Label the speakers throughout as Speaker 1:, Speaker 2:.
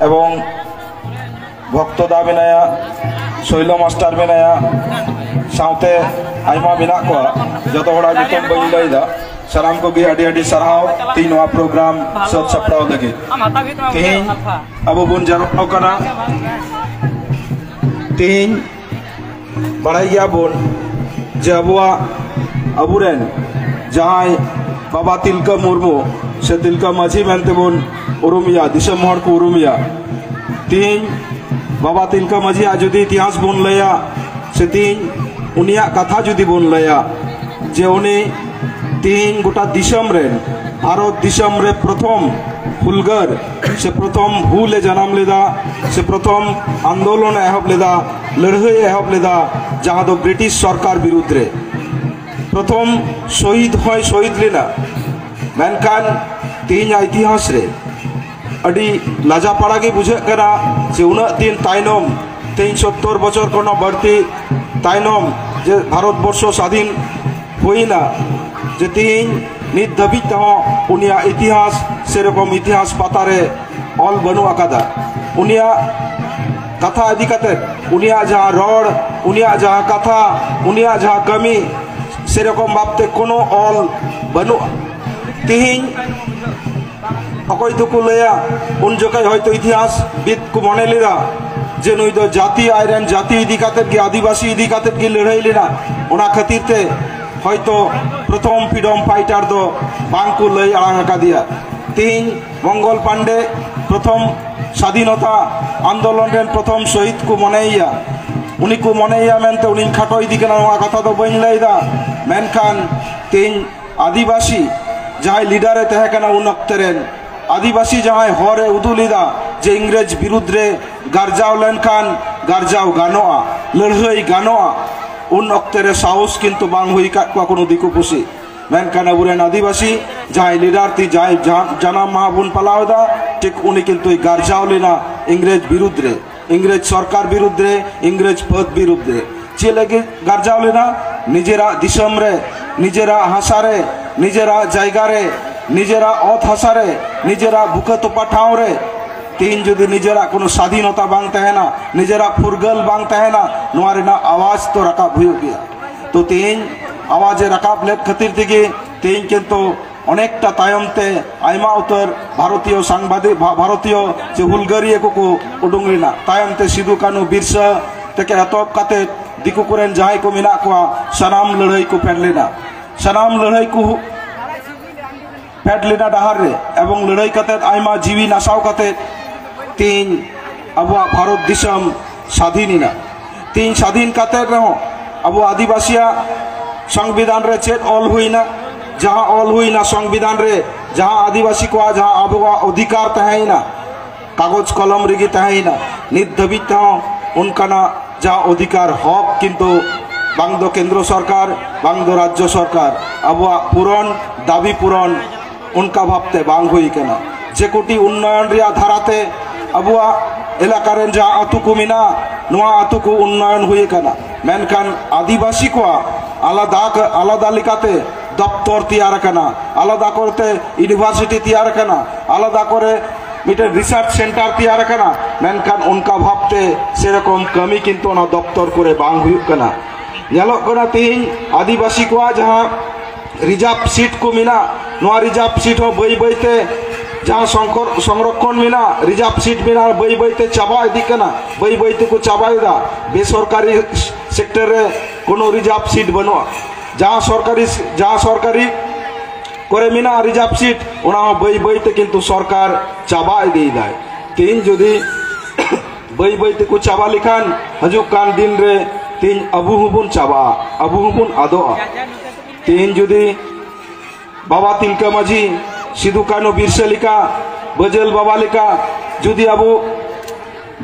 Speaker 1: এবং ᱵᱷᱚᱠᱛᱚᱫᱟ ᱢᱮᱱᱟᱭᱟ ᱥᱚᱭᱞᱚ ᱢᱟᱥᱴᱟᱨ ᱢᱮᱱᱟᱭᱟ ᱥᱟᱶᱛᱮ ᱟᱭᱢᱟ ᱢᱮᱱᱟᱜ ᱠᱚᱣᱟ ᱡᱚᱛᱚ ᱦᱚᱲᱟᱜ ᱧᱩᱛᱩᱢ ᱵᱟᱹᱧ ᱞᱟᱹᱭᱫᱟ ᱥᱟᱱᱟᱢ ᱠᱚᱜᱮ ᱟᱹᱰᱤ ᱟᱹᱰᱤ ᱥᱟᱨᱦᱟᱣ ᱛᱤᱦᱤᱧ ᱱᱚᱣᱟ ᱯᱨᱳᱜᱨᱟᱢ ᱥᱟᱹᱛ ᱥᱟᱯᱲᱟᱣ ᱞᱟᱹᱜᱤᱫ ᱛᱤᱦᱤᱧ ᱟᱵᱚ ᱵᱚᱱ ᱡᱟᱨᱣᱟᱜ ᱠᱟᱱᱟ ᱛᱤᱦᱤᱧ ᱵᱟᱲᱟᱭ ᱜᱮᱭᱟ ᱵᱚᱱ ᱡᱮ ᱟᱵᱚᱣᱟᱜ ᱟᱵᱚᱨᱮᱱ ᱡᱟᱦᱟᱸᱭ ᱵᱟᱵᱟ ᱛᱤᱞᱠᱟᱹ ᱢᱩᱨᱢᱩ ᱥᱮ ᱛᱤᱞᱠᱟᱹ ᱢᱟᱹᱡᱷᱤ ᱢᱮᱱᱛᱮ ᱵᱚᱱ ᱩᱨᱩᱢᱮᱭᱟ ᱫᱤᱥᱚᱢ ᱦᱚᱲ ᱠᱚ ᱩᱨᱩᱢᱮᱭᱟ ᱛᱤᱦᱤᱧ ᱵᱟᱵᱟ ᱛᱤᱞᱠᱟᱹ ᱢᱟᱹᱡᱷᱤᱭᱟᱜ ᱡᱩᱫᱤ ᱤᱛᱤᱦᱟᱥ ᱵᱚᱱ ᱞᱟᱹᱭᱟ ᱥᱮ ᱛᱤᱦᱤᱧ ᱩᱱᱤᱭᱟᱜ ᱠᱟᱛᱷᱟ ᱡᱩᱫᱤ ᱵᱚᱱ ᱞᱟᱹᱭᱟ ᱡᱮ ᱩᱱᱤ ᱛᱤᱦᱤᱧ ᱜᱚᱴᱟ ᱫᱤᱥᱚᱢ ᱨᱮ ᱵᱷᱟᱨᱚᱛ ᱫᱤᱥᱚᱢ ᱨᱮ ᱯᱨᱚᱛᱷᱚᱢ ᱦᱩᱞᱜᱟᱹᱨ ᱥᱮ ᱯᱨᱚᱛᱷᱚᱢ ᱦᱩᱞ ᱮ ᱡᱟᱱᱟᱢ ᱞᱮᱫᱟ ᱥᱮ ᱯᱨᱚᱛᱷᱚᱢ ᱟᱱᱫᱳᱞᱚᱱ ᱮ ᱮᱦᱚᱵ ᱞᱮᱫᱟ ᱞᱟᱹᱲᱦᱟᱹᱭ ᱮ ᱮᱦᱚᱵ ᱞᱮᱫᱟ ᱡᱟᱦᱟᱸ ᱫᱚ ᱵᱨᱤᱴᱤᱥ ᱥᱚᱨᱠᱟᱨ ᱵᱤᱨᱩᱫᱽ ᱨᱮ ᱯᱨᱚᱛᱷᱚᱢ ᱥᱚᱦᱤᱫ ᱦᱚᱸᱭ ᱥᱚᱦᱤᱫ ᱞᱮᱱᱟ ᱢᱮᱱᱠᱷᱟᱱ ᱛᱮᱦᱮᱧᱟᱜ ᱤᱛᱤᱦᱟᱥ ᱨᱮ ᱟᱹᱰᱤ ᱞᱟᱡᱟᱯᱟᱲᱟ ᱜᱮ ᱵᱩᱡᱷᱟᱹᱜ ᱠᱟᱱᱟ ᱡᱮ ᱩᱱᱟᱹᱜ ᱫᱤᱱ ᱛᱟᱭᱱᱚᱢ ᱛᱮᱦᱮᱧ ᱥᱚᱛᱛᱚᱨ ᱵᱚᱪᱷᱚᱨ ᱠᱷᱚᱱ ᱦᱚᱸ ᱵᱟᱹᱲᱛᱤ ᱛᱟᱭᱱᱚᱢ ᱡᱮ ᱵᱷᱟᱨᱚᱛ ᱵᱚᱨᱥᱚ ᱥᱟᱫᱷᱤᱱ ᱦᱩᱭᱱᱟ ᱡᱮ ᱛᱮᱦᱮᱧ ᱱᱤᱛ ᱫᱷᱟᱹᱵᱤᱡ ᱛᱮᱦᱚᱸ ᱩᱱᱤᱭᱟᱜ ᱤᱛᱤᱦᱟᱥ ᱥᱮᱨᱚᱠᱚᱢ ᱤᱛᱤᱦᱟᱥ ᱯᱟᱛᱟ ᱨᱮ ᱚᱞ ᱵᱟᱹᱱᱩᱜ ᱟᱠᱟᱫᱟ ᱩᱱᱤᱭᱟᱜ ᱠᱟᱛᱷᱟ ᱤᱫᱤ ᱠᱟᱛᱮ ᱩᱱᱤᱭᱟᱜ ᱡᱟᱦᱟᱸ ᱨᱚᱲ ᱩᱱᱤᱭᱟᱜ ᱡᱟᱦᱟᱸ ᱠᱟᱛᱷᱟ ᱩᱱᱤᱭᱟᱜ ᱡᱟᱦᱟᱸ ᱠᱟᱹᱢᱤ ᱥᱮᱨᱚᱠᱚᱢ ᱵᱷᱟᱵᱛᱮ ᱠᱳᱱᱳ ᱚᱞ ᱵᱟᱹᱱᱩᱜᱼᱟ ᱛᱮᱦᱮᱧ ᱚᱠᱚᱭ ᱫᱚᱠᱚ ᱞᱟᱹᱭᱟ ᱩᱱ ᱡᱚᱠᱷᱚᱡ ᱦᱚᱭᱛᱚ ᱤᱛᱤᱦᱟᱥ ᱵᱤᱫ ᱠᱚ ᱢᱚᱱᱮ ᱞᱮᱫᱟ ᱡᱮ ᱱᱩᱭ ᱫᱚ ᱡᱟᱹᱛᱤ ᱟᱡ ᱨᱮᱱ ᱡᱟᱹᱛᱤ ᱤᱫᱤ ᱠᱟᱛᱮ ᱜᱮ ᱟᱹᱫᱤᱵᱟᱹᱥᱤ ᱤᱫᱤ ᱠᱟᱛᱮ ᱜᱮ ᱞᱟᱹᱲᱦᱟᱹᱭ ᱞᱮᱱᱟ ᱚᱱᱟ ᱠᱷᱟᱹᱛᱤᱨ ᱛᱮ ᱦᱚᱭᱛᱚ ᱯᱨᱚᱛᱷᱚᱢ ᱯᱷᱨᱤᱰᱚᱢ ᱯᱷᱟᱭᱴᱟᱨ ᱫᱚ ᱵᱟᱝ ᱠᱚ ᱞᱟᱹᱭ ᱟᱲᱟᱝ ᱟᱠᱟᱫᱮᱭᱟ ᱛᱮᱦᱮᱧ ᱢᱚᱝᱜᱚᱞ ᱯᱟᱱᱰᱮ ᱯᱨᱚᱛᱷᱚᱢ ᱥᱟᱫᱷᱤᱱᱚᱛᱟ ᱟᱱᱫᱳᱞᱚᱱ ᱨᱮᱱ ᱯᱨᱚᱛᱷᱚᱢ ᱥᱚᱦᱤᱫ ᱠᱚ ᱢᱚᱱᱮᱭᱮᱭᱟ ᱩᱱᱤ ᱠᱚ ᱢᱚᱱᱮᱭᱮᱭᱟ ᱢᱮᱱᱛᱮ ᱩᱱᱤᱧ ᱠᱷᱟᱴᱚ ᱤᱫᱤ ᱠᱟᱱᱟ ᱱᱚᱣᱟ ᱠᱟᱛᱷᱟ ᱫᱚ ᱵᱟᱹᱧ ᱞᱟᱹᱭᱫᱟ ᱢᱮᱱᱠᱷᱟᱱ ᱛᱮᱦᱮᱧ ᱟᱹᱫᱤᱵᱟᱹᱥᱤ ᱡᱟᱦᱟᱸᱭ ᱞᱤᱰᱟᱨᱮ ᱛᱟᱦᱮᱸ ᱠᱟᱱᱟ ᱩᱱ ᱚᱠᱛᱮ ᱨᱮᱱ ᱟᱹᱫᱤᱵᱟᱹᱥᱤ ᱡᱟᱦᱟᱸᱭ ᱦᱚᱨᱮ ᱩᱫᱩᱜ ᱞᱮᱫᱟ ᱡᱮ ᱤᱝᱨᱮᱡᱽ ᱵᱤᱨᱩᱫᱽ ᱨᱮ ᱜᱟᱨᱡᱟᱣ ᱞᱮᱱᱠᱷᱟᱱ ᱜᱟᱨᱡᱟᱣ ᱜᱟᱱᱚᱜᱼᱟ ᱞᱟᱹᱲᱦᱟᱹᱭ ᱜᱟᱱᱚᱜᱼᱟ ᱩᱱ ᱚᱠᱛᱮ ᱨᱮ ᱥᱟᱦᱚᱥ ᱠᱤᱱᱛᱩ ᱵᱟᱝ ᱦᱩᱭ ᱟᱠᱟᱫ ᱠᱚᱣᱟ ᱠᱳᱱᱳ ᱫᱤᱠᱩ ᱯᱩᱥᱤ ᱢᱮᱱᱠᱷᱟᱱ ᱟᱵᱚᱨᱮᱱ ᱟᱹᱫᱤᱵᱟᱹᱥᱤ ᱡᱟᱦᱟᱸᱭ ᱞᱤᱰᱟᱨ ᱛᱤ ᱡᱟᱦᱟᱸᱭ ᱡᱟᱱᱟᱢ ᱢᱟᱦᱟ ᱵᱚᱱ ᱯᱟᱞᱟᱣ ᱮᱫᱟ ᱴᱷᱤᱠ ᱩᱱᱤ ᱠᱤᱱᱛᱩᱭ ᱜᱟᱨᱡᱟᱣ ᱞᱮᱱᱟ ᱤᱝᱨᱮᱡᱽ ᱵᱤᱨᱩᱫᱽ ᱨᱮ ᱤᱝᱨᱮᱡᱽ ᱥᱚᱨᱠᱟᱨ ᱵᱤᱨᱩᱫᱽ ᱨᱮ ᱤᱝᱨᱮᱡᱽ ᱯᱷᱟᱹᱫᱽ ᱵᱤᱨᱩᱫᱽ ᱨᱮ ᱪᱮᱫ ᱞᱟᱹᱜᱤᱫ ᱜᱟᱨᱡᱟᱣ ᱞᱮᱱᱟ ᱱᱤᱡᱮᱨᱟᱜ ᱫᱤᱥᱚᱢ ᱨᱮ ᱱᱤᱡᱮᱨᱟᱜ ᱦᱟᱥᱟ ᱨᱮ ᱱᱤᱡᱮᱨᱟᱜ ᱡᱟᱭᱜᱟ ᱨᱮ ᱱᱤᱡᱮᱨᱟᱜ ᱚᱛ ᱦᱟᱥᱟ ᱨᱮ ᱱᱤᱡᱮᱨᱟᱜ ᱵᱩᱠᱟᱹ ᱛᱚᱯᱟ ᱴᱷᱟᱶ ᱨᱮ ᱛᱤᱦᱤᱧ ᱡᱩᱫᱤ ᱱᱤᱡᱮᱨᱟᱜ ᱠᱳᱱᱳ ᱥᱟᱫᱷᱤᱱᱚᱛᱟ ᱵᱟᱝ ᱛᱟᱦᱮᱱᱟ ᱱᱤᱡᱮᱨᱟᱜ ᱯᱷᱩᱨᱜᱟᱹᱞ ᱵᱟᱝ ᱛᱟᱦᱮᱱᱟ ᱱᱚᱣᱟ ᱨᱮᱱᱟᱜ ᱟᱣᱟᱡᱽ ᱛᱚ ᱨᱟᱠᱟᱵ ᱦᱩᱭᱩᱜ ᱜᱮᱭᱟ ᱛᱚ ᱛᱤᱦᱤᱧ ᱟᱣᱟᱡᱽ ᱮ ᱨᱟᱠᱟᱵ ᱞᱮᱫ ᱠᱷᱟᱹᱛᱤᱨ ᱛᱮᱜᱮ ᱛᱤᱦᱤᱧ ᱠᱤᱱᱛᱩ ᱚᱱᱮᱠᱴᱟ ᱛᱟᱭᱚᱢ ᱛᱮ ᱟᱭᱢᱟ ᱩᱛᱟᱹᱨ ᱵᱷᱟᱨᱚᱛᱤᱭᱚ ᱥᱟᱝᱵᱟᱫᱤᱠ ᱵᱷᱟᱨᱚᱛᱤᱭᱚ ᱥᱮ ᱦᱩᱞᱜᱟᱹᱨᱤᱭᱟᱹ ᱠᱚᱠᱚ ᱩᱰᱩᱝ ᱞᱮᱱᱟ ᱛᱟᱭᱚᱢ ᱛᱮ ᱥᱤᱫᱩ ᱠᱟᱹᱱᱩ ᱵᱤᱨᱥᱟᱹ ᱛᱮᱠᱮ ᱮᱛᱚᱦᱚᱵ ᱠᱟᱛᱮ ᱫᱤᱠᱩ ᱠᱚᱨᱮᱱ ᱡᱟᱦᱟᱸᱭ ᱠᱚ ᱢᱮᱱᱟᱜ ᱠᱚᱣᱟ ᱥᱟᱱᱟᱢ ᱞᱟᱹᱲᱦᱟᱹᱭ ᱠᱚ ᱯᱷᱮᱰ ᱞᱮᱱᱟ ᱥᱟᱱᱟᱢ ᱞᱟᱹᱲᱦᱟᱹᱭ ᱠᱚ ᱯᱷᱮᱰ ᱞᱮᱱᱟ ᱰᱟᱦᱟᱨ ᱨᱮ ᱮᱵᱚᱝ ᱞᱟᱹᱲᱦᱟᱹᱭ ᱠᱟᱛᱮ ᱟᱭᱢᱟ ᱡᱤᱣᱤ ᱱᱟᱥᱟᱣ ᱠᱟᱛᱮ ᱛᱮᱦᱮᱧ ᱟᱵᱚᱣᱟᱜ ᱵᱷᱟᱨᱚᱛ ᱫᱤᱥᱚᱢ ᱥᱟᱫᱷᱤᱱ ᱮᱱᱟ ᱛᱤᱧ ᱥᱟᱫᱷᱤᱱ ᱠᱟᱛᱮ ᱨᱮᱦᱚᱸ ᱟᱵᱚ ᱟᱹᱫᱤᱵᱟᱹᱥᱤᱭᱟᱜ ᱥᱚᱝᱵᱤᱫᱷᱟᱱ ᱨᱮ ᱪᱮᱫ ᱚᱞ ᱦᱩᱭᱱᱟ ᱡᱟᱦᱟᱸ ᱚᱞ ᱦᱩᱭᱱᱟ ᱥᱚᱝᱵᱤᱫᱷᱟᱱ ᱨᱮ ᱡᱟᱦᱟᱸ ᱟᱹᱫᱤᱵᱟᱹᱥᱤ ᱠᱚᱣᱟᱜ ᱡᱟᱦᱟᱸ ᱟᱵᱚᱣᱟᱜ ᱚᱫᱷᱤᱠᱟᱨ ᱛᱟᱦᱮᱸᱭᱮᱱᱟ ᱠᱟᱜᱚᱡᱽ ᱠᱚᱞᱚᱢ ᱨᱮᱜᱮ ᱛᱟᱦᱮᱸᱭᱮᱱᱟ ᱱᱤᱛ ᱫᱷᱟᱹᱵᱤᱡ ᱛᱮᱦᱚᱸ ᱚᱱᱠᱟᱱᱟᱜ ᱡᱟᱦᱟᱸ ᱚᱫᱷᱤᱠᱟᱨ ᱦᱚᱠ ᱠᱤᱱᱛᱩ ᱵᱟᱝ ᱫᱚ ᱠᱮᱱᱫᱨᱚ ᱥᱚᱨᱠᱟᱨ ᱵᱟᱝ ᱫᱚ ᱨᱟᱡᱽᱡᱚ ᱥᱚᱨᱠᱟᱨ ᱟᱵᱚᱣᱟᱜ ᱯᱩᱨᱚᱱ ᱫᱟᱹᱵᱤ ᱯᱩᱨᱚᱱ ᱚᱱᱠᱟ ᱵᱷᱟᱵᱛᱮ ᱵᱟᱝ ᱦᱩᱭ ᱠᱟᱱᱟ ᱡᱮ ᱠᱳᱴᱤ ᱩᱱᱱᱚᱭᱚᱱ ᱨᱮᱭᱟᱜ ᱫᱷᱟᱨᱟᱛᱮ ᱟᱵᱚᱣᱟᱜ ᱮᱞᱟᱠᱟ ᱨᱮᱱ ᱡᱟᱦᱟᱸ ᱟᱛᱳ ᱠᱚ ᱢᱮᱱᱟᱜᱼᱟ ᱱᱚᱣᱟ ᱟᱛᱳ ᱠᱚ ᱩᱱᱱᱚᱭᱚᱱ ᱦᱩᱭ ᱟᱠᱟᱱᱟ ᱢᱮᱱᱠᱷᱟᱱ ᱟᱹᱫᱤᱵᱟᱹᱥᱤ ᱠᱚᱣᱟᱜ ᱟᱞᱟᱫᱟ ᱟᱞᱟᱫᱟ ᱞᱮᱠᱟᱛᱮ ᱫᱚᱯᱛᱚᱨ ᱛᱮᱭᱟᱨ ᱟᱠᱟᱱᱟ ᱟᱞᱟᱫᱟ ᱠᱚᱨᱮᱛᱮ ᱤᱭᱩᱱᱤᱵᱷᱟᱨᱥᱤᱴᱤ ᱛᱮᱭᱟᱨ ᱟᱠᱟᱱᱟ ᱟᱞᱟᱫᱟ ᱠᱚᱨᱮ ᱢᱤᱫᱴᱮᱱ ᱨᱤᱥᱟᱨᱪ ᱥᱮᱱᱴᱟᱨ ᱛᱮᱭᱟᱨ ᱟᱠᱟᱱᱟ ᱢᱮᱱᱠᱷᱟᱱ ᱚᱱᱠᱟ ᱵᱷᱟᱵᱛᱮ ᱥᱮᱨᱚᱠᱚᱢ ᱠᱟᱹᱢᱤ ᱠᱤᱱᱛᱩ ᱚᱱᱟ ᱫᱚᱯᱛᱚᱨ ᱠᱚᱨᱮ ᱵᱟᱝ ᱦᱩᱭᱩᱜ ᱠᱟᱱᱟ ᱧᱮᱞᱚᱜ ᱠᱟᱱᱟ ᱛᱮᱦᱤᱧ ᱟᱹᱫᱤᱵᱟᱹᱥᱤ ᱠᱚᱣᱟᱜ ᱡᱟᱦᱟᱸ ᱨᱤᱡᱟᱨᱵᱷ ᱥᱤᱴ ᱠᱚ ᱢᱮᱱᱟᱜ ᱱᱚᱣᱟ ᱨᱤᱡᱟᱨᱵᱷ ᱥᱤᱴ ᱦᱚᱸ ᱵᱟᱹᱭ ᱵᱟᱹᱭ ᱛᱮ ᱡᱟᱦᱟᱸ ᱥᱚᱝᱠᱚᱨ ᱥᱚᱝᱨᱚᱠᱷᱚᱱ ᱢᱮᱱᱟᱜ ᱨᱤᱡᱟᱨᱵᱷ ᱥᱤᱴ ᱢᱮᱱᱟᱜ ᱵᱟᱹᱭ ᱵᱟᱹᱭ ᱛᱮ ᱪᱟᱵᱟ ᱤᱫᱤᱜ ᱠᱟᱱᱟ ᱵᱟᱹᱭ ᱵᱟᱹᱭ ᱛᱮᱠᱚ ᱪᱟᱵᱟᱭᱮᱫᱟ ᱵᱮᱥᱚᱨᱠᱟᱨᱤ ᱥᱮᱠᱴᱚᱨ ᱨᱮ ᱠᱳᱱᱳ ᱨᱤᱡᱟᱨᱵᱷ ᱥᱤᱴ ᱵᱟᱹᱱᱩᱜᱼᱟ ᱡᱟᱦᱟᱸ ᱥᱚᱨᱠᱟᱨᱤ ᱡᱟᱦᱟᱸ ᱥᱚᱨᱠᱟᱨᱤ ᱠᱚᱨᱮ ᱢᱮᱱᱟᱜ ᱨᱤᱡᱟᱨᱵᱷ ᱥᱤᱴ ᱚᱱᱟ ᱦᱚᱸ ᱵᱟᱹᱭ ᱵᱟᱹᱭ ᱛᱮ ᱠᱤᱱᱛᱩ ᱥᱚᱨᱠᱟᱨ ᱪᱟᱵᱟ ᱤᱫᱤᱭᱮᱫᱟᱭ ᱛᱮᱦᱮᱧ ᱡᱩᱫᱤ ᱵᱟᱹᱭ ᱵᱟᱹᱭ ᱛᱮᱠᱚ ᱪᱟᱵᱟ ᱞᱮᱠᱷᱟᱱ ᱦᱤᱡᱩᱜ ᱠᱟᱱ ᱫᱤᱱ ᱨᱮ ᱛᱮᱦᱮᱧ ᱟᱵᱚ ᱦᱚᱸᱵᱚᱱ ᱪᱟᱵᱟᱜᱼᱟ ᱟᱵᱚ ᱦᱚᱸᱵᱚᱱ ᱟᱫᱚᱜᱼᱟ ᱛᱮᱦᱮᱧ ᱡᱩᱫᱤ ᱵᱟᱵᱟ ᱛᱤᱞᱠᱟᱹ ᱢᱟᱹᱡᱷᱤ ᱥᱤᱫᱩ ᱠᱟᱹᱱᱩ ᱵᱤᱨᱥᱟᱹ ᱞᱮᱠᱟ ᱵᱟᱹᱡᱟᱹᱞ ᱵᱟᱵᱟ ᱞᱮᱠᱟ ᱡᱩᱫᱤ ᱟᱵᱚ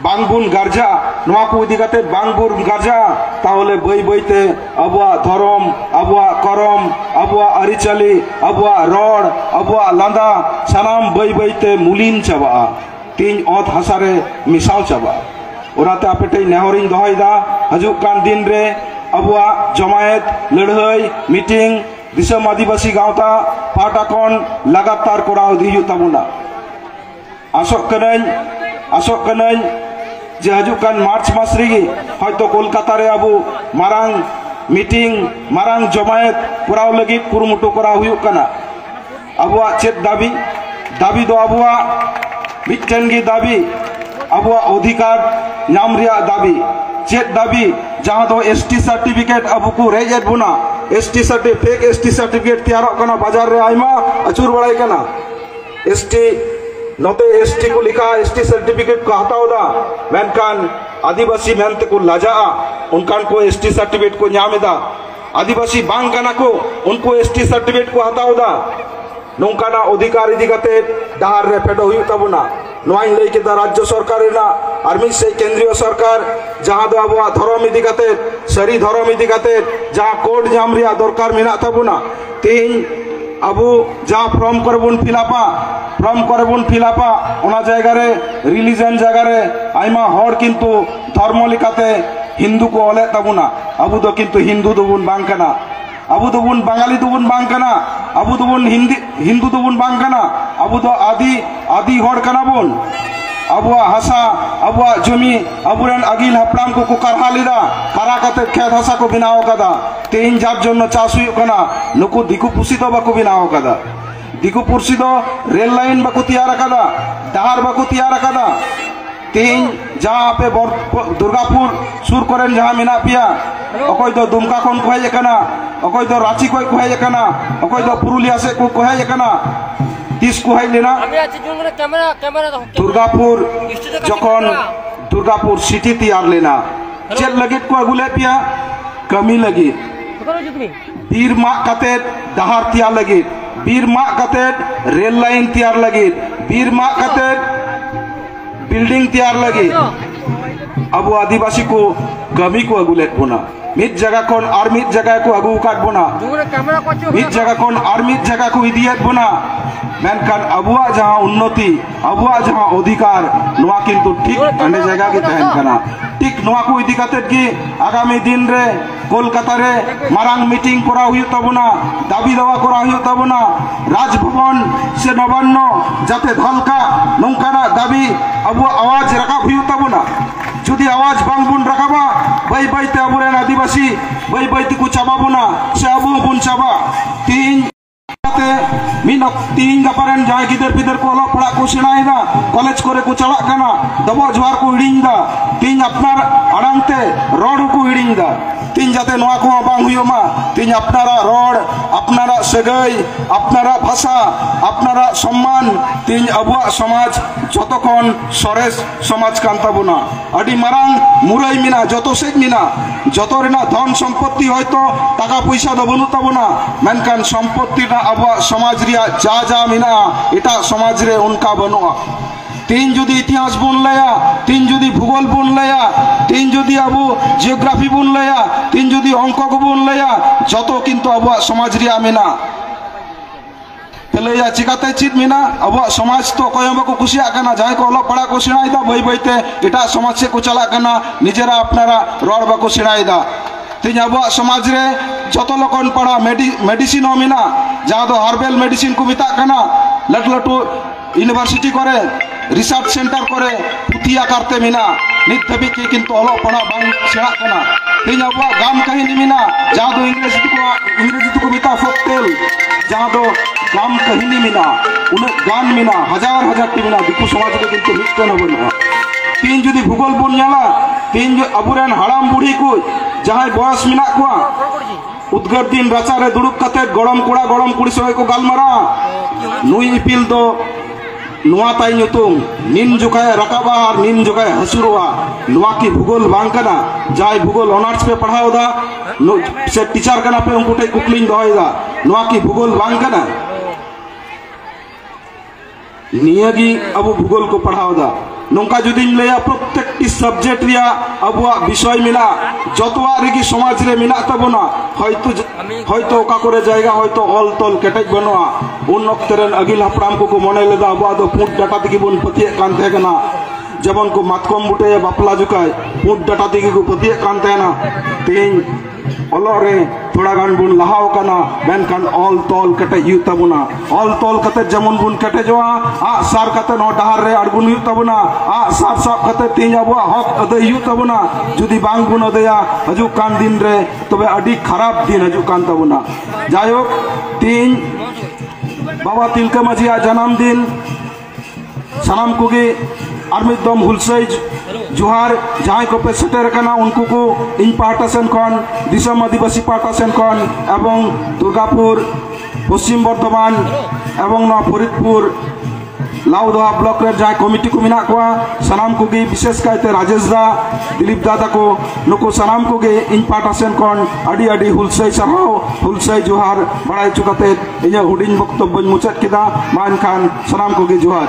Speaker 1: ᱵᱟᱝᱵᱚᱱ ᱜᱟᱨᱡᱟ ᱱᱚᱣᱟ ᱠᱚ ᱤᱫᱤ ᱠᱟᱛᱮ ᱵᱟᱝᱵᱚᱱ ᱜᱟᱨᱡᱟ ᱛᱟᱦᱚᱞᱮ ᱵᱟᱹᱭ ᱵᱟᱹᱭᱛᱮ ᱟᱵᱚᱣᱟᱜ ᱫᱷᱚᱨᱚᱢ ᱟᱵᱚᱣᱟᱜ ᱠᱚᱨᱚᱢ ᱟᱵᱚᱣᱟᱜ ᱟᱹᱨᱤᱪᱟᱹᱞᱤ ᱟᱵᱚᱣᱟᱜ ᱨᱚᱲ ᱟᱵᱚᱣᱟᱜ ᱞᱟᱸᱫᱟ ᱥᱟᱱᱟᱢ ᱵᱟᱹᱭ ᱵᱟᱹᱭᱛᱮ ᱢᱩᱞᱤᱱ ᱪᱟᱵᱟᱜᱼᱟ ᱛᱤᱧ ᱚᱛ ᱦᱟᱥᱟ ᱨᱮ ᱢᱮᱥᱟᱣ ᱪᱟᱵᱟ ᱚᱱᱟᱛᱮ ᱟᱯᱮ ᱴᱷᱮᱱ ᱱᱮᱦᱚᱨᱤᱧ ᱫᱚᱦᱚᱭᱮᱫᱟ ᱦᱤᱡᱩᱜ ᱠᱟᱱ ᱫᱤᱱ ᱨᱮ ᱟᱵᱚᱣᱟᱜ ᱡᱚᱢᱟᱭᱮᱛ ᱞᱟᱹᱲᱦᱟᱹᱭ ᱢᱤᱴᱤᱝ ᱫᱤᱥᱚᱢ ᱟᱹᱫᱤᱵᱟᱹᱥᱤ ᱜᱟᱶᱛᱟ ᱯᱟᱦᱴᱟ ᱠᱷᱚᱱ ᱞᱟᱜᱟᱛᱟᱨ ᱠᱚᱨᱟᱣ ᱤᱫᱤ ᱦᱩᱭᱩᱜ ᱛᱟᱵᱚᱱᱟ ᱟᱥᱚᱜ ᱠᱟᱹᱱᱟᱹᱧ ᱟᱥᱚᱜ ᱠᱟᱹᱱᱟᱹᱧ ᱡᱮ ᱦᱤᱡᱩᱜ ᱠᱟᱱ ᱢᱟᱨᱪ ᱢᱟᱥ ᱨᱮᱜᱮ ᱦᱚᱭᱛᱚ ᱠᱳᱞᱠᱟᱛᱟ ᱨᱮ ᱟᱵᱚ ᱢᱟᱨᱟᱝ ᱢᱤᱴᱤᱝ ᱢᱟᱨᱟᱝ ᱡᱚᱢᱟᱭᱮᱛ ᱠᱚᱨᱟᱣ ᱞᱟᱹᱜᱤᱫ ᱠᱩᱨᱩᱢᱩᱴᱩ ᱠᱚᱨᱟᱣ ᱦᱩᱭᱩᱜ ᱠᱟᱱᱟ ᱟᱵᱚᱣᱟᱜ ᱪᱮᱫ ᱫᱟᱹᱵᱤ ᱫᱟᱹᱵᱤ ᱫᱚ ᱟᱵᱚᱣᱟᱜ ᱢᱤᱫᱴᱮᱱ ᱜᱮ ᱫᱟᱹᱵᱤ ᱟᱵᱚᱣᱟᱜ ᱚᱫᱷᱤᱠᱟᱨ ᱧᱟᱢ ᱨᱮᱭᱟᱜ ᱫᱟᱹᱵᱤ ᱪᱮᱫ ᱫᱟᱹᱵᱤ ᱡᱟᱦᱟᱸ ᱫᱚ ᱮᱥ ᱴᱤ ᱥᱟᱨᱴᱤᱯᱷᱤᱠᱮᱴ ᱟᱵᱚ ᱠᱚ ᱨᱮᱡ ᱮᱫ ᱵᱚᱱᱟ S T certificate S T certificate ᱛᱮᱭᱟᱨᱚᱜ ᱠᱟᱱᱟ ᱵᱟᱡᱟᱨ ᱨᱮ ᱟᱭᱢᱟ ᱟᱹᱪᱩᱨ ᱵᱟᱲᱟᱭ ᱠᱟᱱᱟ ᱮᱥ ᱴᱤ ᱱᱚᱛᱮ ᱮᱥ ᱴᱤ ᱠᱚ ᱞᱮᱠᱟ ᱮᱥ ᱴᱤ ᱥᱟᱨᱴᱤᱯᱷᱤᱠᱮᱴ ᱠᱚ ᱦᱟᱛᱟᱣ ᱮᱫᱟ ᱢᱮᱱᱠᱷᱟᱱ ᱟᱹᱫᱤᱵᱟᱹᱥᱤ ᱢᱮᱱᱛᱮ ᱠᱚ ᱞᱟᱡᱟᱜᱼᱟ ᱚᱱᱠᱟᱱ ᱠᱚ ᱮᱥ ᱴᱤ ᱥᱟᱨᱴᱤᱯᱷᱤᱠᱮᱴ ᱠᱚ ᱧᱟᱢ ᱮᱫᱟ ᱟᱹᱫᱤᱵᱟᱹᱥᱤ ᱵᱟᱝ ᱠᱟᱱᱟ ᱠᱚ ᱩᱱᱠᱩ ᱮᱥ ᱴᱤ ᱥᱟᱨᱴᱤᱯᱷᱤᱠᱮᱴ ᱠᱚ ᱦᱟᱛᱟᱣ ᱮᱫᱟ ᱱᱚᱝᱠᱟᱱᱟᱜ ᱚᱫᱷᱤᱠᱟᱨ ᱤᱫᱤ ᱠᱟᱛᱮ ᱰᱟᱦᱟᱨ ᱨᱮ ᱯᱷᱮᱰᱚᱜ ᱦᱩᱭᱩᱜ ᱛᱟᱵᱚᱱᱟ ᱱᱚᱣᱟᱧ ᱞᱟᱹᱭ ᱠᱮᱫᱟ ᱨᱟᱡᱽᱡᱚ ᱥᱚᱨᱠᱟᱨ ᱨᱮᱱᱟᱜ ᱟᱨ ᱢᱤᱫ ᱥᱮᱡ ᱠᱮᱱᱫᱨᱤᱭᱚ ᱥᱚᱨᱠᱟᱨ ᱡᱟᱦᱟᱸ ᱫᱚ ᱟᱵᱚᱣᱟᱜ ᱫᱷᱚᱨᱚᱢ ᱤᱫᱤ ᱠᱟᱛᱮ ᱥᱟᱹᱨᱤ ᱫᱷᱚᱨᱚᱢ ᱤᱫᱤ ᱠᱟᱛᱮ ᱡᱟᱦᱟᱸ ᱠᱳᱰ ᱧᱟᱢ ᱨᱮᱭᱟᱜ ᱫᱚᱨᱠᱟᱨ ᱢᱮᱱᱟᱜ ᱛᱟᱵᱚᱱᱟ ᱛᱮᱦᱮᱧ ᱟᱵᱚ ᱡᱟᱦᱟᱸ ᱯᱷᱨᱚᱢ ᱠᱚᱨᱮ ᱵᱚᱱ ᱯᱷᱤᱞᱟᱯᱟ ᱯᱷᱨᱚᱢ ᱠᱚᱨᱮ ᱵᱚᱱ ᱯᱷᱤᱞᱟᱯᱟ ᱚᱱᱟ ᱡᱟᱭᱜᱟ ᱨᱮ ᱨᱤᱞᱤᱡᱚᱱ ᱡᱟᱭᱜᱟ ᱨᱮ ᱟᱭᱢᱟ ᱦᱚᱲ ᱠᱤᱱᱛᱩ ᱫᱷᱚᱨᱢᱚ ᱞᱮᱠᱟᱛᱮ ᱦᱤᱱᱫᱩ ᱠᱚ ᱚᱞᱮᱫ ᱛᱟᱵᱚᱱᱟ ᱟᱵᱚ ᱫᱚ ᱠᱤᱱᱛᱩ ᱦᱤᱱᱫᱩ ᱫᱚᱵᱚᱱ ᱵᱟᱝ ᱠᱟᱱᱟ ᱟᱵᱚ ᱫᱚᱵᱚᱱ ᱵᱟঙᱟᱞᱤ ᱫᱚᱵᱚᱱ ᱵᱟᱝ ᱠᱟᱱᱟ ᱟᱵᱚ ᱫᱚᱵᱚᱱ ᱦᱤᱱᱫᱤ ᱦᱤᱱᱫᱩ ᱫᱚᱵᱚᱱ ᱵᱟᱝ ᱠᱟᱱᱟ ᱟᱵᱚ ᱫᱚ ᱟᱫᱤ ᱟᱫᱤ ᱦᱚᱲ ᱠᱟᱱᱟ ᱵᱚᱱ ᱟᱵᱚᱣᱟᱜ ᱦᱟᱥᱟ ᱟᱵᱚᱣᱟᱜ ᱡᱚᱢᱤ ᱟᱵᱚᱨᱮᱱ ᱟᱹᱜᱤᱞ ᱦᱟᱯᱲᱟᱢ ᱠᱚᱠᱚ ᱠᱟᱨᱦᱟ ᱞᱮᱫᱟ ᱠᱟᱨᱟ ᱠᱟᱛᱮ ᱠᱷᱮᱛ ᱦᱟᱥᱟ ᱠᱚ ᱵᱮᱱᱟᱣ ᱟᱠᱟᱫᱟ ᱛᱮᱦᱮᱧ ᱡᱟᱨ ᱡᱚᱱᱱᱚ ᱪᱟᱥ ᱦᱩᱭᱩᱜ ᱠᱟᱱᱟ ᱱᱩᱠᱩ ᱫᱤᱠᱩ ᱯᱩᱥᱤ ᱫᱚ ᱵᱟᱠᱚ ᱵᱮᱱᱟᱣ ᱟᱠᱟᱫᱟ ᱫᱤᱠᱩ ᱯᱩᱨᱥᱤ ᱫᱚ ᱨᱮᱞ ᱞᱟᱭᱤᱱ ᱵᱟᱠᱚ ᱛᱮᱭᱟᱨ ᱟᱠᱟᱫᱟ ᱰᱟᱦᱟᱨ ᱵᱟᱠᱚ ᱛᱮᱭᱟᱨ ᱟᱠᱟᱫᱟ ᱛᱮᱦᱮᱧ ᱡᱟᱦᱟᱸ ᱟᱯᱮ ᱫᱩᱨᱜᱟᱯᱩᱨ ᱥᱩᱨ ᱠᱚᱨᱮᱱ ᱡᱟᱦᱟᱸ ᱢᱮᱱᱟᱜ ᱯᱮᱭᱟ ᱚᱠᱚᱭ ᱫᱚ ᱫᱩᱢᱠᱟ ᱠᱷᱚᱱ ᱠᱚ ᱦᱮᱡ ᱟᱠᱟᱱᱟ ᱚᱠᱚᱭ ᱫᱚ ᱨᱟᱸᱪᱤ ᱠᱷᱚᱱ ᱠᱚ ᱦᱮᱡ ᱟᱠᱟᱱᱟ ᱚᱠᱚᱭ ᱫᱚ ᱯᱩᱨᱩᱞᱤᱭᱟ ᱥᱮᱫ ᱠᱚ ᱦᱮᱡ ᱟᱠᱟᱱᱟ ᱛᱤᱥ ᱠᱚ ᱦᱮᱡ ᱞᱮᱱᱟ ᱫᱩᱨᱜᱟᱯᱩᱨ ᱡᱚᱠᱷᱚᱱ ᱫᱩᱨᱜᱟᱯᱩᱨ ᱥᱤᱴᱤ ᱛᱮᱭᱟᱨ ᱞᱮᱱᱟ ᱪᱮᱫ ᱞᱟᱹᱜᱤᱫ ᱠᱚ ᱟᱹᱜᱩ ᱞᱮᱫ ᱯᱮᱭᱟ ᱠᱟᱹᱢᱤ ᱞᱟᱹᱜᱤᱫ ᱵᱤᱨ ᱢᱟᱜ ᱠᱟᱛᱮ ᱰᱟᱦᱟᱨ ᱛᱮᱭᱟᱨ ᱞᱟᱹᱜᱤᱫ ᱵᱤᱨ ᱢᱟᱜ ᱠᱟᱛᱮ ᱨᱮᱞ ᱞᱟᱭᱤᱱ ᱛᱮᱭᱟᱨ ᱞᱟᱹᱜᱤᱫ ᱵᱤᱨ ᱢᱟᱜ ᱠᱟᱛᱮ ᱵᱤᱞᱰᱤᱝ ᱛᱮᱭᱟᱨ ᱞᱟᱹᱜᱤᱫ ᱟᱵᱚ ᱟᱹᱫᱤᱵᱟᱹᱥᱤ ᱠᱚ ᱠᱟᱹᱢᱤ ᱠᱚ ᱟᱹᱜᱩ ᱞᱮᱫ ᱵᱚᱱᱟ ᱢᱤᱫ ᱡᱟᱭᱜᱟ ᱠᱷᱚᱱ ᱟᱨ ᱢᱤᱫ ᱡᱟᱭᱜᱟ ᱠᱚ ᱟᱹᱜᱩ ᱟᱠᱟᱫ ᱵᱚᱱᱟ ᱢᱤᱫ ᱡᱟᱭᱜᱟ ᱠᱷᱚᱱ ᱟᱨ ᱢᱤᱫ ᱡᱟᱭᱜᱟ ᱠᱚ ᱤᱫᱤᱭᱮᱫ ᱵᱚᱱᱟ ᱢᱮᱱᱠᱷᱟᱱ ᱟᱵᱚᱣᱟᱜ ᱡᱟᱦᱟᱸ ᱩᱱᱱᱚᱛᱤ ᱟᱵᱚᱣᱟᱜ ᱡᱟᱦᱟᱸ ᱚᱫᱷᱤᱠᱟᱨ ᱱᱚᱣᱟ ᱠᱤᱱᱛᱩ ᱴᱷᱤᱠ ᱚᱸᱰᱮ ᱡᱟᱭᱜᱟ ᱜᱮ ᱛᱟᱦᱮᱱ ᱠᱟᱱᱟ ᱴᱷᱤᱠ ᱱᱚᱣᱟ ᱠᱚ ᱤᱫᱤ ᱠᱟᱛᱮ ᱜᱮ ᱟᱜᱟᱢᱤ ᱫᱤᱱ ᱨᱮ ᱠᱳᱞᱠᱟᱛᱟ ᱨᱮ ᱢᱟᱨᱟᱝ ᱢᱤᱴᱤᱝ ᱠᱚᱨᱟᱣ ᱦᱩᱭᱩᱜ ᱛᱟᱵᱚᱱᱟ ᱫᱟᱵᱤ ᱫᱟᱣᱟ ᱠᱚᱨᱟᱣ ᱦᱩᱭᱩᱜ ᱛᱟᱵᱚᱱᱟ ᱨᱟᱡᱽ ᱵᱷᱚᱵᱚᱱ ᱥᱮ ᱱᱚᱵᱟᱱᱱᱚ ᱡᱟᱛᱮ ᱫᱷᱟᱞᱠᱟ ᱱᱚᱝᱠᱟᱱᱟᱜ ᱫᱟᱵᱤ ᱟᱵᱚᱣᱟᱜ ᱟᱣᱟᱡᱽ ᱨᱟᱠᱟᱵ ᱦᱩᱭᱩᱜ ᱛᱟᱵᱚᱱᱟ ᱡᱩᱫᱤ ᱟᱣᱟᱡᱽ ᱵᱟᱝ ᱵᱚᱱ ᱨᱟᱠᱟᱵᱟ ᱵᱟᱹᱭ ᱵᱟᱹᱭ ᱛᱮ ᱟᱵᱚᱨᱮᱱ ᱟᱹᱫᱤᱵᱟᱹᱥᱤ ᱵᱟᱹᱭ ᱵᱟᱹᱭ ᱛᱮᱠᱚ ᱪᱟᱵᱟ ᱵᱚᱱᱟ ᱥᱮ ᱟᱵᱚ ᱦᱚᱸᱵᱚᱱ ᱪᱟᱵᱟ ᱛᱤᱦᱤᱧ ᱢᱤᱫ ᱛᱤᱦᱤᱧ ᱜᱟᱯᱟ ᱨᱮᱱ ᱡᱟᱦᱟᱸᱭ ᱜᱤᱫᱟᱹᱨ ᱯᱤᱫᱟᱹᱨ ᱠᱚ ᱚᱞᱚᱜ ᱯᱟᱲᱦᱟᱜ ᱠᱚ ᱥᱮᱬᱟᱭᱮᱫᱟ ᱠᱚᱞᱮᱡᱽ ᱠᱚᱨᱮ ᱠᱚ ᱪᱟᱞᱟᱜ ᱠᱟᱱᱟ ᱰᱚᱵᱚᱜ ᱡᱚᱦᱟᱨ ᱠᱚ ᱦᱤᱲᱤᱧᱫᱟ ᱛᱤᱦᱤᱧ ᱟᱯᱱᱟᱨ ᱟᱲᱟᱝ ᱛᱮ ᱨᱚᱲ ᱦᱚᱸᱠᱚ ᱦᱤᱲᱤᱧᱫᱟ ᱛᱤᱦᱤᱧ ᱡᱟᱛᱮ ᱱᱚᱣᱟ ᱠᱚᱦᱚᱸ ᱵᱟᱝ ᱦᱩᱭᱩᱜ ᱢᱟ ᱛᱤᱦᱤᱧ ᱟᱯᱱᱟᱨᱟᱜ ᱨᱚᱲ ᱟᱯᱱᱟᱨᱟᱜ ᱥᱟᱹᱜᱟᱹᱭ ᱟᱯᱱᱟᱨᱟᱜ ᱵᱷᱟᱥᱟ ᱟᱯᱱᱟᱨᱟᱜ ᱥᱚᱢᱢᱟᱱ ᱛᱤᱦᱤᱧ ᱟᱵᱚᱣᱟᱜ ᱥᱚᱢᱟᱡᱽ ᱡᱚᱛᱚ ᱠᱷᱚᱱ ᱥᱚᱨᱮᱥ ᱥᱚᱢᱟᱡᱽ ᱠᱟᱱ ᱛᱟᱵᱚᱱᱟ ᱟᱹᱰᱤ ᱢᱟᱨᱟᱝ ᱢᱩᱨᱟᱹᱭ ᱢᱮᱱᱟᱜᱼᱟ ᱡᱚᱛᱚ ᱥᱮᱫ ᱢᱮᱱᱟᱜᱼᱟ ᱡᱚᱛᱚ ᱨᱮᱱᱟᱜ ᱫᱷᱚᱱ ᱥᱚᱢᱯᱚᱛᱛᱤ ᱦᱚᱭᱛᱚ ᱴᱟᱠᱟ ᱯᱚᱭᱥᱟ ᱫᱚ ᱵᱟᱹᱱᱩᱜ ᱛᱟᱵᱚᱱᱟ ᱢᱮᱱᱠᱷᱟᱱ ᱥᱚᱢᱯᱚᱛᱛᱤ ᱨᱮᱱᱟᱜ ᱟᱵᱚᱣᱟᱜ ᱥᱚᱢᱟᱡᱽ ᱨᱮᱭᱟᱜ ᱡᱟ ᱡᱟ ᱢᱮᱱᱟᱜᱼᱟ ᱮᱴᱟᱜ ᱥᱚᱢᱟᱡᱽ ᱨᱮ ᱚᱱᱠᱟ ᱵᱟᱹᱱᱩᱜᱼᱟ ᱛᱤᱱ ᱡᱩᱫᱤ ᱤᱛᱤᱦᱟᱥ ᱵᱚᱱ ᱞᱟᱹᱭᱟ ᱛᱤᱱ ᱡᱩᱫᱤ ᱵᱷᱩᱜᱳᱞ ᱵᱚᱱ ᱞᱟᱹᱭᱟ ᱛᱤᱱ ᱡᱩᱫᱤ ᱟᱵᱚ ᱡᱤᱭᱳᱜᱨᱟᱯᱷᱤ ᱵᱚᱱ ᱞᱟᱹᱭᱟ ᱛᱤᱱ ᱡᱩᱫᱤ ᱚᱝᱠᱚ ᱠᱚᱵᱚᱱ ᱞᱟᱹᱭᱟ ᱡᱚᱛᱚ ᱠᱤᱱᱛᱩ ᱟᱵᱚᱣᱟᱜ ᱥᱚᱢᱟᱡᱽ ᱨᱮᱭᱟᱜ ᱢᱮᱱᱟᱜᱼᱟ ᱞᱟᱹᱭᱟ ᱪᱤᱠᱟᱛᱮ ᱪᱮᱫ ᱢᱮᱱᱟᱜ ᱟᱵᱚᱣᱟᱜ ᱥᱚᱢᱟᱡᱽ ᱛᱚ ᱚᱠᱚᱭ ᱦᱚᱸ ᱵᱟᱠᱚ ᱠᱩᱥᱤᱭᱟᱜ ᱠᱟᱱᱟ ᱡᱟᱦᱟᱸᱭ ᱠᱚ ᱚᱞᱚᱜ ᱯᱟᱲᱦᱟᱜ ᱠᱚ ᱥᱮᱬᱟᱭᱮᱫᱟ ᱵᱟᱹᱭ ᱵᱟᱹᱭᱛᱮ ᱮᱴᱟᱜ ᱥᱚᱢᱟᱡᱽ ᱥᱮᱫ ᱠᱚ ᱪᱟᱞᱟᱜ ᱠᱟᱱᱟ ᱱᱤᱡᱮᱨᱟᱜ ᱟᱯᱱᱟᱨᱟᱜ ᱨᱚᱲ ᱵᱟᱠᱚ ᱥᱮᱬᱟᱭᱮᱫᱟ ᱛᱮᱦᱮᱧ ᱟᱵᱚᱣᱟᱜ ᱥᱚᱢᱟᱡᱽ ᱨᱮ ᱡᱚᱛᱚ ᱞᱚᱠᱚᱱ ᱯᱟᱲᱟᱜ ᱢᱮᱰᱤᱥᱤᱱ ᱦᱚᱸ ᱢᱮᱱᱟᱜᱼᱟ ᱡᱟᱦᱟᱸ ᱫᱚ ᱦᱟᱨᱵᱮᱞ ᱢᱮᱰᱤᱥᱤᱱ ᱠᱚ ᱢᱮᱛᱟᱜ ᱠᱟᱱᱟ ᱞᱟᱹᱴᱩ ᱞᱟᱹᱴᱩ ᱤᱭᱩᱱᱤᱵᱷᱟᱨᱥᱤᱴᱤ ᱠᱚᱨᱮ ᱨᱤᱥᱟᱨᱪ ᱥᱮᱱᱴᱟᱨ ᱠᱚᱨᱮ ᱯᱩᱛᱷᱤ ᱟᱠᱟᱨ ᱛᱮ ᱢᱮᱱᱟᱜᱼᱟ ᱱᱤᱛ ᱫᱷᱟᱹᱵᱤᱡ ᱜᱮ ᱠᱤᱱᱛᱩ ᱚᱞᱚᱜ ᱯᱟᱲᱦᱟᱜ ᱵᱟᱝ ᱥᱮᱬᱟᱜ ᱠᱟᱱᱟ ᱛᱮᱦᱮᱧ ᱟᱵᱚᱣᱟᱜ ᱜᱟᱢ ᱠᱟᱹᱦᱱᱤ ᱢᱮᱱᱟᱜᱼᱟ ᱡᱟᱦᱟᱸ ᱫᱚ ᱤᱝᱨᱮᱡᱤ ᱛᱮᱠᱚ ᱤᱝᱨᱮᱡᱤ ᱛᱮᱠᱚ ᱢᱮᱛᱟᱜᱼᱟ ᱯᱷᱳᱠᱴᱮᱞ ᱡᱟᱦᱟᱸ ᱫᱚ ᱜᱟᱢ ᱠᱟᱹᱦᱱᱤ ᱢᱮᱱᱟᱜᱼᱟ ᱩᱱᱟᱹᱜ ᱜᱟᱱ ᱢᱮᱱᱟᱜᱼᱟ ᱦᱟᱡᱟᱨ ᱦᱟᱡᱟᱨ ᱴᱤ ᱢᱮᱱᱟᱜᱼᱟ ᱫᱤᱠᱩ ᱥᱚᱢᱟᱡᱽ ᱨᱮ ᱠᱤᱱᱛᱩ ᱢᱤᱫᱴᱮᱱ ᱦᱚᱸ ᱵᱟᱹᱱᱩᱜᱼᱟ ᱛᱮᱦᱮᱧ ᱡᱩᱫᱤ ᱵᱷᱩᱜᱳᱞ ᱵᱚᱱ ᱧᱮᱞᱟ ᱛᱮᱦᱮᱧ ᱟᱵᱚᱨᱮᱱ ᱦᱟᱲᱟᱢ ᱵᱩᱲᱦᱤ ᱠᱚ ᱡᱟᱦᱟᱸᱭ ᱵᱚᱭᱚᱥ ᱢᱮᱱᱟᱜ ᱠᱚᱣᱟ ᱩᱫᱽᱜᱟᱹᱨ ᱫᱤᱱ ᱨᱟᱪᱟ ᱨᱮ ᱫᱩᱲᱩᱵ ᱠᱟᱛᱮ ᱜᱚᱲᱚᱢ ᱠᱚᱲᱟ ᱜᱚᱲᱚᱢ ᱠᱩᱲᱤ ᱥᱚᱸᱜᱮ ᱠᱚ ᱜᱟᱞᱢᱟᱨᱟ ᱱᱩᱭ ᱤᱯᱤᱞ ᱫᱚ ᱱᱚᱣᱟ ᱛᱟᱭ ᱧᱩᱛᱩᱢ ᱱᱤᱱ ᱡᱚᱠᱷᱟᱭ ᱨᱟᱠᱟᱵᱟ ᱟᱨ ᱱᱤᱱ ᱡᱚᱠᱷᱟᱭ ᱦᱟᱹᱥᱩᱨᱚᱜᱼᱟ ᱱᱚᱣᱟ ᱠᱤ ᱵᱷᱩᱜᱳᱞ ᱵᱟᱝ ᱠᱟᱱᱟ ᱡᱟᱭ ᱵᱷᱩᱜᱳᱞ ᱚᱱᱟᱨᱥ ᱯᱮ ᱯᱟᱲᱦᱟᱣ ᱫᱟ ᱥᱮ ᱴᱤᱪᱟᱨ ᱠᱟᱱᱟ ᱯᱮ ᱩᱱᱠᱩ ᱴᱷᱮᱱ ᱠᱩᱠᱞᱤᱧ ᱫᱚᱦᱚᱭᱮᱫᱟ ᱱᱚᱣᱟ ᱠᱤ ᱵᱷᱩᱜᱳᱞ ᱵᱟᱝ ᱠᱟᱱᱟ ᱱᱤᱭᱟᱹᱜᱮ ᱟᱵᱚ ᱵᱷᱩᱜᱳᱞ ᱠᱚ ᱯᱟᱲᱦᱟᱣᱫᱟ ᱱᱚᱝᱠᱟ ᱡᱩᱫᱤᱧ ᱞᱟᱹᱭᱟ ᱯᱨᱚᱛᱮᱠᱴᱤ ᱥᱟᱵᱡᱮᱠᱴ ᱨᱮᱭᱟᱜ ᱟᱵᱚᱣᱟᱜ ᱵᱤᱥᱚᱭ ᱢᱮᱱᱟᱜᱼᱟ ᱡᱚᱛᱚᱣᱟᱜ ᱨᱮᱜᱮ ᱥᱚᱢᱟᱡᱽ ᱨᱮ ᱢᱮᱱᱟᱜ ᱛᱟᱵᱚᱱᱟ ᱦᱚᱭᱛᱳ ᱦᱚᱭᱛᱳ ᱚᱠᱟ ᱠᱚᱨᱮ ᱡᱟᱭᱜᱟ ᱦᱚᱭᱛᱳ ᱚᱞ ᱛᱚᱞ ᱠᱮᱴᱮᱡ ᱵᱟᱹᱱᱩᱜᱼᱟ ᱩᱱ ᱚᱠᱛᱮ ᱨᱮᱱ ᱟᱹᱜᱤᱞ ᱦᱟᱯᱲᱟᱢ ᱠᱚᱠᱚ ᱢᱚᱱᱮ ᱞᱮᱫᱟ ᱟᱵᱚᱣᱟᱜ ᱫᱚ ᱯᱩᱸᱰ ᱰᱟᱴᱟ ᱛᱮᱜᱮ ᱵᱚᱱ ᱯᱟᱹᱛᱭᱟᱹᱜ ᱠᱟᱱ ᱛᱟᱦᱮᱸ ᱠᱟᱱᱟ ᱡᱮᱢᱚᱱ ᱠᱚ ᱢᱟᱛᱠᱚᱢ ᱵᱩᱴᱟᱹᱭᱟ ᱵᱟᱯᱞᱟ ᱡᱚᱠᱷᱟᱡ ᱯᱩᱸᱰ ᱰᱟᱴᱟ ᱛᱮᱜᱮ ᱠᱚ ᱯᱟᱹᱛᱭᱟᱹᱜ ᱠᱟᱱ ᱛᱟᱦᱮᱱᱟ ᱛᱮᱦᱮᱧ ᱚᱞᱚᱜ ᱨᱮ ᱛᱷᱚᱲᱟ ᱜᱟᱱ ᱵᱚᱱ ᱞᱟᱦᱟᱣ ᱠᱟᱱᱟ ᱢᱮᱱᱠᱷᱟᱱ ᱚᱞ ᱛᱚᱞ ᱠᱟᱛᱮ ᱦᱩᱭᱩᱜ ᱛᱟᱵᱚᱱᱟ ᱚᱞ ᱛᱚᱞ ᱠᱟᱛᱮ ᱡᱮᱢᱚᱱ ᱵᱚᱱ ᱠᱮᱴᱮᱡᱚᱜᱼᱟ ᱟᱜ ᱥᱟᱨ ᱠᱟᱛᱮ ᱱᱚᱣᱟ ᱰᱟᱦᱟᱨ ᱨᱮ ᱟᱬᱜᱚᱱ ᱦᱩᱭᱩᱜ ᱛᱟᱵᱚᱱᱟ ᱟᱜ ᱥᱟᱨ ᱥᱟᱵ ᱠᱟᱛᱮ ᱛᱮᱦᱮᱧ ᱟᱵᱚᱣᱟᱜ ᱦᱚᱠ ᱟᱹᱫᱟᱹᱭ ᱦᱩᱭᱩᱜ ᱛᱟᱵᱚᱱᱟ ᱡᱩᱫᱤ ᱵᱟᱝ ᱵᱚᱱ ᱟᱹᱫᱟᱹᱭᱟ ᱦᱤᱡᱩᱜ ᱠᱟᱱ ᱫᱤᱱ ᱨᱮ ᱛᱚᱵᱮ ᱟᱹᱰᱤ ᱠᱷᱟᱨᱟᱯ ᱫᱤᱱ ᱦᱤᱡᱩᱜ ᱠᱟᱱ ᱛᱟᱵᱚᱱᱟ ᱡᱟᱭᱦᱳᱠ ᱛᱮᱦᱮᱧ ᱵᱟᱵᱟ ᱛᱤᱞᱠᱟᱹ ᱢᱟᱹᱡᱷᱤᱭᱟᱜ ᱡᱟᱱᱟᱢ ᱫᱤᱱ ᱥᱟᱱᱟᱢ ᱠᱚᱜᱮ ᱟᱨ ᱢᱤᱫ ᱫᱚᱢ ᱦᱩᱞᱥᱟᱹᱭ ᱡᱚᱦᱟᱨ ᱡᱟᱦᱟᱸᱭ ᱠᱚᱯᱮ ᱥᱮᱴᱮᱨ ᱟᱠᱟᱱᱟ ᱩᱱᱠᱩ ᱠᱚ ᱤᱧ ᱯᱟᱦᱴᱟ ᱥᱮᱱ ᱠᱷᱚᱱ ᱫᱤᱥᱚᱢ ᱟᱹᱫᱤᱵᱟᱹᱥᱤ ᱯᱟᱦᱴᱟ ᱥᱮᱱ ᱠᱷᱚᱱ ᱮᱵᱚᱝ ᱫᱩᱨᱜᱟᱯᱩᱨ ᱯᱚᱥᱪᱤᱢ ᱵᱚᱨᱫᱷᱚᱢᱟᱱ ᱮᱵᱚᱝ ᱱᱚᱣᱟ ᱯᱷᱚᱨᱤᱫᱯᱩᱨ ᱞᱟᱣᱫᱚᱦᱟ ᱵᱞᱚᱠ ᱨᱮ ᱡᱟᱦᱟᱸᱭ ᱠᱚᱢᱤᱴᱤ ᱠᱚ ᱢᱮᱱᱟᱜ ᱠᱚᱣᱟ ᱥᱟᱱᱟᱢ ᱠᱚᱜᱮ ᱵᱤᱥᱮᱥ ᱠᱟᱭᱛᱮ ᱨᱟᱡᱮᱥ ᱫᱟ ᱫᱤᱞᱤᱯ ᱫᱟ ᱛᱟᱠᱚ ᱱᱩᱠᱩ ᱥᱟᱱᱟᱢ ᱠᱚᱜᱮ ᱤᱧ ᱯᱟᱦᱴᱟ ᱥᱮᱱ ᱠᱷᱚᱱ ᱟᱹᱰᱤ ᱟᱹᱰᱤ ᱦᱩᱞᱥᱟᱹᱭ ᱥᱟᱨᱦᱟᱣ ᱦᱩᱞᱥᱟᱹᱭ ᱡᱚᱦᱟᱨ ᱵᱟᱲᱟᱭ ᱦᱚᱪᱚ ᱠᱟᱛᱮ ᱤᱧᱟᱹᱜ ᱦᱩᱰᱤᱧ ᱵᱚᱠᱛᱚᱵᱵᱚᱧ ᱢᱩᱪᱟᱹᱫ ᱠᱮᱫᱟ ᱢᱟ ᱮᱱᱠᱷᱟᱱ ᱥᱟᱱᱟᱢ ᱠᱚᱜᱮ ᱡᱚᱦᱟᱨ